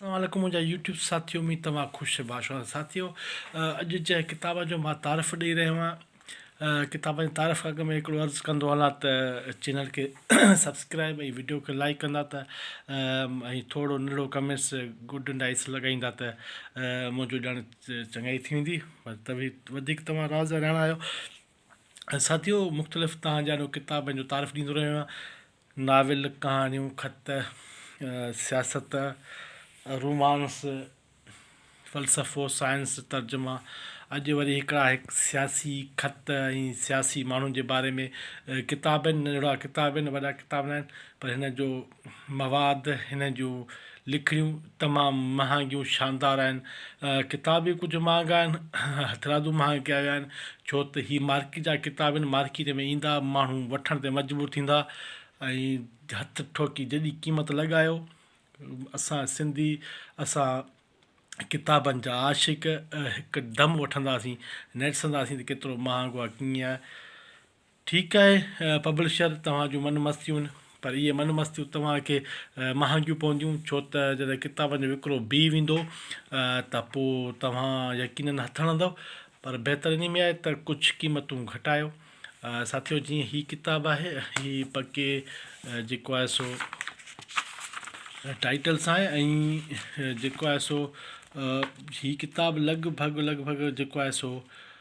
اسلام عليڪم منهنجا يوٽيوب ساٿيو اميد توهان خوش باش آهيو ساٿيو اڄ جنهن ڪتاب جو مان تعارف ڏيئي رهيو آهيان ڪتاب جي تعارف اڳ ۾ هڪڙو عرض ڪندو هلان ته چينل کي سبسڪرائب ۽ ويڊيو کي لائڪ ڪندا ته ۽ ٿورو ننڍڙو ڪمينٽس گڊ اينڊ آئس لڳائيندا ته منهنجو ڄڻ چڱائي ٿي ويندي پر ته به وڌيڪ توهان راز رهڻا آهيو ساٿيو مختلف تهان جا ڪتابن جو تعارف ڏيندو رهيو آهيان ناول، ڪهاڻيون، خط، سياست، رومانس، فلسفو، سائنس، ترجما، اڄ وري هڪڙا هڪ سياسي خط ۽ سياسي ماڻهن جي باري ۾ ڪتاب آهن ننڍڙا ڪتاب آهن وڏا ڪتاب ناهن پر هن جو مواد هن جون لکڻيون تمام مهانگيون شاندار آهن. ڪتاب به ڪجهه مهانگا آهن. هٿرادو مهانگا به آهن. ڇو ته هي مارڪيٽ جا ڪتاب آهن. مارڪيٽ ۾ ايندا ماڻهو وٺڻ تي مجبور ٿيندا ۽ هٿ ٺوڪي جيڏي قيمت لڳايو. اسان سنڌي اسان ڪتابن جا عاشق هڪ دم وٺنداسين نرسنداسين ته ڪيترو مهانگو آهي ڪيئن آهي. ٺيڪ آهي پبلشر توهان جون من مستيون پر اهي من مستيون توهان کي مهانگيون پونديون ڇو ته جڏهن ڪتابن جو وڪرو بيهي ويندو ته پوء توهان يقينن هٿ هڻندؤ پر بهتر انهي ۾ آهي ته ڪجهه قيمتون گهٽايو ساٿيو جيئن هي ڪتاب آهي هي پڪي جيڪو آهي سو ٽائيٽل سان آهي ۽ جيڪو آهي سو هي ڪتاب لڳ ڀڳ لڳ ڀڳ جيڪو آهي سو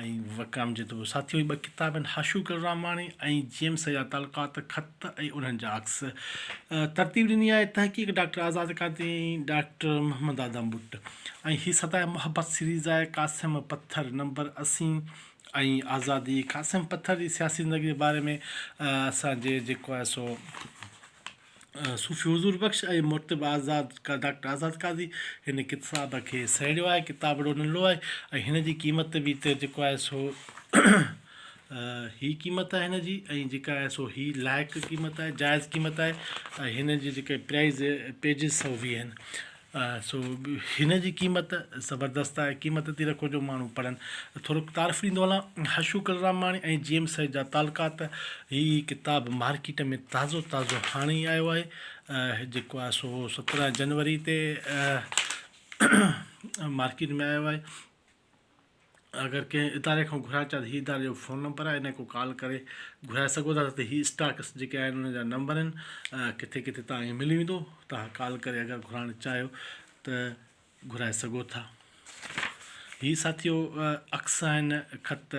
۽ وڪرم جي دور ساٿيء جي ٻه ڪتاب آهن، حاشو گل راماڻي ۽ جي ايم سيد جا تعلقات، خط ۽ انهن جا عڪس. ترتيب ڏني آهي تحقيق ڊاڪٽر آزاد قادري ۽ ڊاڪٽر محمد آدم بٽ ۽ هي صدائي محبت سيريز آهي، قاسم پٿر نمبر اسين ۽ آزادي، قاسم پٿر جي سياسي زندگي جي باري ۾ اسان جي جيڪو آهي سو. صوفي حضور بخش ۽ مرتب آزاد ڊاڪٽر آزاد قاضي هن ڪتاب کي سهيڙيو آهي. ڪتاب وڏو ننڍڙو آهي ۽ هن جي قيمت به هتي جيڪو آهي سو هي قيمت آهي هن جي ۽ جيڪا آهي سو هي لائق قيمت آهي جائز قيمت آهي ۽ هن جي جيڪا پرائز پيجز سؤ ويهه آهن سو هن جي قيمت زبردست آهي قيمت تي رکو جو ماڻهو پڙهن ٿورو تعارف ڏيندو هلان حشو ڪلراماڻي ۽ جي ايم سيد جا تعلقات هي ڪتاب مارڪيٽ ۾ تازو تازو هاڻي ئي آيو آهي جيڪو آهي سو سترهن جنوري تي مارڪيٽ ۾ آيو آهي اگر ڪنهن اداري کان گهرائڻ چاهيو ته هي اداري جو فون نمبر آهي انهن کان ڪال ڪري گهرائي سگهو ٿا ته هي اسٽاڪس جيڪي آهن انهن جا نمبر آهن ڪٿي ڪٿي تان کي ملي ويندو تان ڪال ڪري اگر گهرائڻ چاهيو ته گهرائي سگهو ٿا هي ساٿيو عڪس آهن خط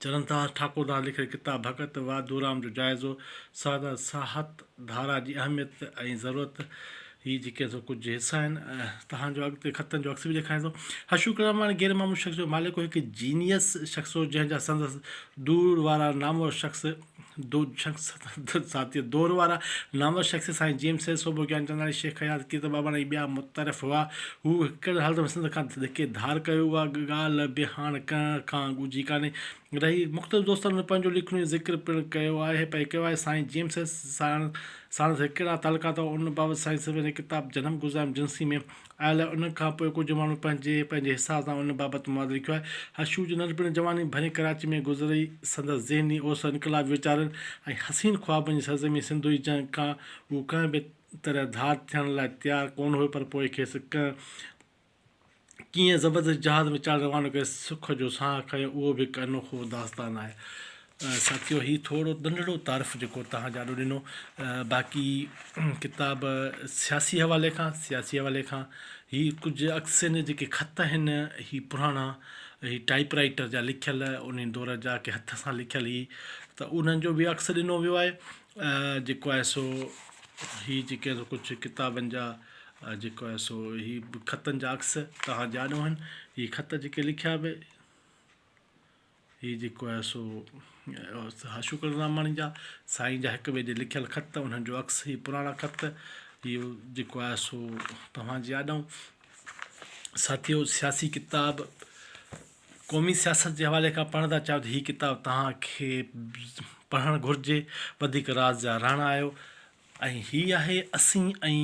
چرنداس ٺاڪردار لکيل ڪتاب ڀڳت واڌورام جو جائزو، سادر ساهت ڌارا جي اهميت ۽ ضرورت، هي جيڪي سو ڪجهه حصا آهن، توهان جو اڳتي خطن جو عڪس به ڏيکاريان ٿو. حشو ڪراماڻي غير معمول شخص جو مالڪ هو، هڪ جينيئس شخص هو، جنهن جا سندس دور وارا نامور شخص، دو شخص ساٿيء دور وارا نامور شخص سائين جيمس سيد سوڀو گيان چنداڻي شيخ حيات ڪيرت ٻاٻاڻي ۽ ٻيا متعارف هئا. هو هڪڙي حالت ۾ سنڌ کان ڌڪي ڌار ڪيو اها ڳالهه به هاڻ ڪنهن کان ڳجهي ڪانهي رهي. مختلف دوستن ۾ پنهنجو ليکڻيون ذڪر پڻ ڪيو آهي پئي ڪيو آهي. سائين جيمس سيد ساڻس هڪڙا تعلقات هئا ان بابت سائين سوڀو جي ڪتاب جنم گذاريم جنسي ۾ آيل ان کان پوء ڪجهه ماڻهن پنهنجي پنهنجي حساب سان ان بابت مواد لکيو آهي. حشو جي ننڍپڻ جواني ڀرين ڪراچي ۾ گذري، سندس ذهني اوسر انقلابي ويچارن ۽ حسين خوابن جي سرزمين سنڌو جي جنگ کان هو ڪنهن به طرح ڌار ٿيڻ لاء تيار ڪونه هيو پر پوء کيس ڪنهن ڪيئن زبردستي جهاز ۾ چاڙهي روانو ڪري سک جو ساهه کنيو اهو به هڪ انوکو داستان آهي. ساٿيو هي ٿورو ننڍڙو تعارف جيڪو توهان جاڏو ڏنو باقي ڪتاب سياسي حوالي کان سياسي حوالي کان هي ڪجهه عڪسين جا جيڪي خط آهن هي پراڻا هي ٽائپ رائيٽر جا لکيل ان دور جا ڪي هٿ سان لکيل هي ته انهن جو به عڪس ڏنو ويو آهي جيڪو آهي سو هي جيڪي ڪجهه ڪتابن جا جيڪو آهي سو هي خطن جا عڪس توهان جاڏو آهن هي خط جيڪي لکيا به هي جيڪو آهي سو استاد شڪر راماڻي جا سائين جا هڪ ٻئي جي لکيل خط انهن جو عڪس هي پراڻا خط اهو جيڪو آهي سو توهان جي آڏائون ساٿيو سياسي ڪتاب قومي سياست جي حوالي کان پڙهڻ ٿا چاهيو ته هي ڪتاب توهان کي پڙهڻ گهرجي وڌيڪ راز جا رهڻا آهيو ۽ هي آهي اسين ۽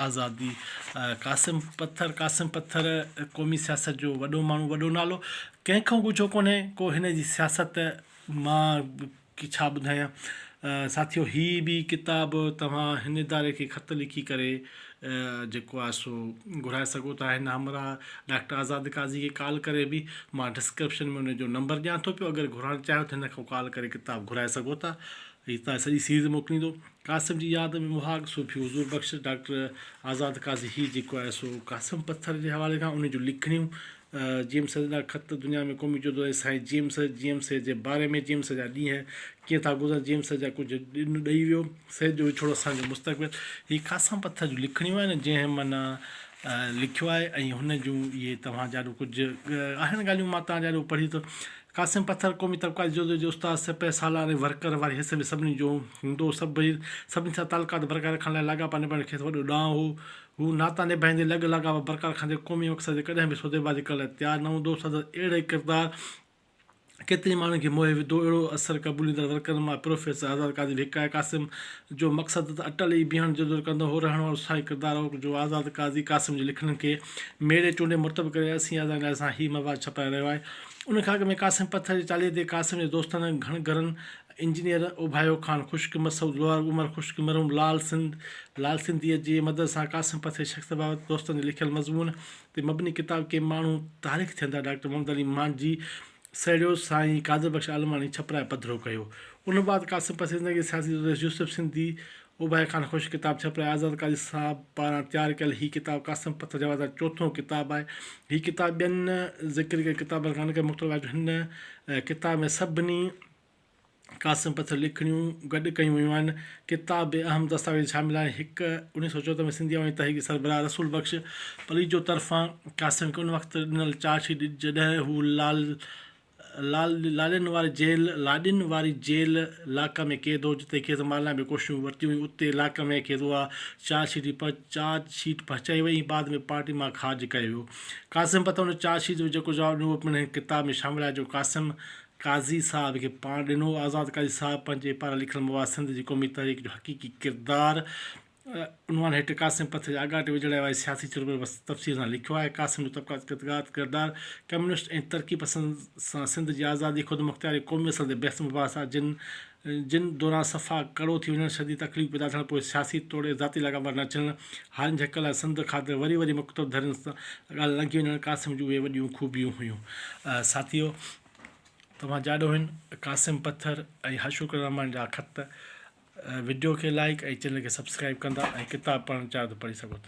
آزادي. قاسم پٿر، Qasim Pathar، قومي سياست جو وڏو ماڻهو، وڏو نالو، ڪنهن کان ڳجهو ڪونهي ڪو هن جي سياست مان ڇا ٻڌايان ساٿيو هي به ڪتاب توهان هن اداري کي خط لکي ڪري جيڪو آهي سو گهرائي سگهو ٿا هن همراهه ڊاڪٽر آزاد قاضي کي ڪال ڪري به مان ڊسڪرپشن ۾ ان جو نمبر ڏيان ٿو پيو اگر گهرائڻ چاهيو ته هن کان ڪال ڪري ڪتاب گهرائي سگهو ٿا اڄ تان سڄي سيريز موڪليندو. قاسم جي ياد ۾ مهاڳ صوفي حضور بخش ڊاڪٽر آزاد قاضي هي جيڪو آهي سو قاسم پٿر جي حوالي کان انهي جون لکڻيون، جي ايم سيد جا خط دنيا ۾ قومي جدو جهد سائين G M Syed, G M Syed جي باري ۾، جي ايم سيد جا ڏينهن ڪيئن ٿا گذرن، جي ايم سيد جا ڪجهه ڏن ڏئي ويو، سيد جو وڇوڙو اسان جو مستقبل، هي قاسم پٿر جون لکڻيون آهن جنهن من لکيو آهي ۽ هن جون اهي توهان جاڏو ڪجهه آهن ڳالهيون مان توهان جي آڏو پڙهي ٿو قاسم پٿر قومي طبقاتي جدوجهد جو استاد، سپهه سالار ۽ ورڪر واري حصي ۾ سڀني جو هوندو هو. سڀئي سڀني سان تعلقات برقرار رکڻ لاء لاڳاپا نڀائڻ کيس وڏو ڏانء هو. هو ناتا نڀائيندي، لڳ لاڳاپا برقرار رکندي، قومي مقصد جي ڪڏهن به سوديبازي ڪرڻ لاء تيار نه هوندو هو. سندس اهڙي ڪردار ڪيترين ماڻهن کي موهي وڌو. اهڙو اثر قبوليندڙ ورڪرن مان پروفيسر آزاد قاضي به هڪ آهي. قاسم جو مقصد ته اٽل ئي بيهڻ جدوجهد ڪندڙ هو. رهڻ وارو ساهي ڪردار هو جو آزاد قاضي قاسم جي لکڻين کي ميڙي چونڊي مرتب ڪري اسين آزادين لاء سان هي مواد ڇپرائي رهيو آهي. ان کاڳ ۾ قاسم پٿر جي چاليهي تي قاسم جي دوستن گهڻ گهرن انجنيئر اوڀايو خان خوش قيمت سعود لوهار عمر خوش قيمت مرحوم لال سنڌ لال سنڌيء جي مدد سان قاسم پٿر جي شخصيت بابت دوستن جي لکيل مضمون تي مبني ڪتاب ڪي ماڻهو تاريخ ٿين ٿا ڊاڪٽر محمد علي مانجهي سهيڙيو سائين قادر بخش عالماڻي ڇپرائي پڌرو ڪيو ان بعد قاسم پٿر جي زندگي سياسي جدوجهد يوسف سنڌي اباهي خان خوش ڪتاب ڇپرائي آزاد قاضي صاحب پاران تيار ڪيل هي ڪتاب قاسم پٿر جا وارث جو چوٿون ڪتاب آهي. هي ڪتاب ٻين ذڪر ڪيل ڪتابن کان انڪري مختلف آهي جو هن ڪتاب ۾ سڀني قاسم پٿر جون لکڻيون گڏ ڪيون ويون آهن. ڪتاب ۾ اهم دستاويز شامل آهن، هڪ اوڻيهه سؤ چوهتر ۾ سنڌي عوامي تحريڪ جي سربراهه رسول بخش پليجو طرفان قاسم کي ان وقت ڏنل چارج شيٽ جڏهن هو لال لاڏن واري جيل، لاڏين واري جيل، لاڪ ۾ قيد هو، جتي کيس مارڻ لاء به ڪوششون ورتيون ويون، اتي لاڪ ۾ کيس اها چارج شيٽ به چارج شيٽ به پهچائي وئي ۽ بعد ۾ پارٽي مان خارج ڪيو ويو. قاسم پتو ان چارج شيٽ جو جيڪو جواب ڏنو اهو پڻ هن ڪتاب ۾ شامل آهي جو قاسم قاضي صاحب کي پاڻ ڏنو هو. آزاد قاضي صاحب پنهنجي پاران لکيل مواد سنڌ جي قومي تحريڪ جو حقيقي ڪردار، عنوان هيٺ قاسم پٿ جي آڳاٽي وجهڙائي واري سياسي چرمر بس تفصيل سان لکيو آهي. قاسم جو طبقاتي قطغات ڪردار، ڪميونسٽ ۽ ترقي پسند سان سنڌ جي آزادي، خودمختياري ۽ قومي اصل تي بحث مباحثا جن جن دوران صفا ڪڙو ٿي وڃڻ، شديد تڪليف پيدا ٿيڻ، پوء سياسي توڙي ذاتي لاڳاپا نه اچڻ، هارين جي حق لاء سنڌ خاطر وري وري مخطب ڌرين سان ڳالهه لنگهي وڃڻ قاسم جون اهي وڏيون خوبيون هيون. ساٿيو! توهان جاڏوهين قاسم پٿر ۽ حشوڪ الرحمان جا خط، وڊيو کي لائيڪ ۽ چينل کي سبسڪرائيب ڪندا ۽ ڪتاب پڙهڻ چاهيو ته پڙهي سگهو ٿا.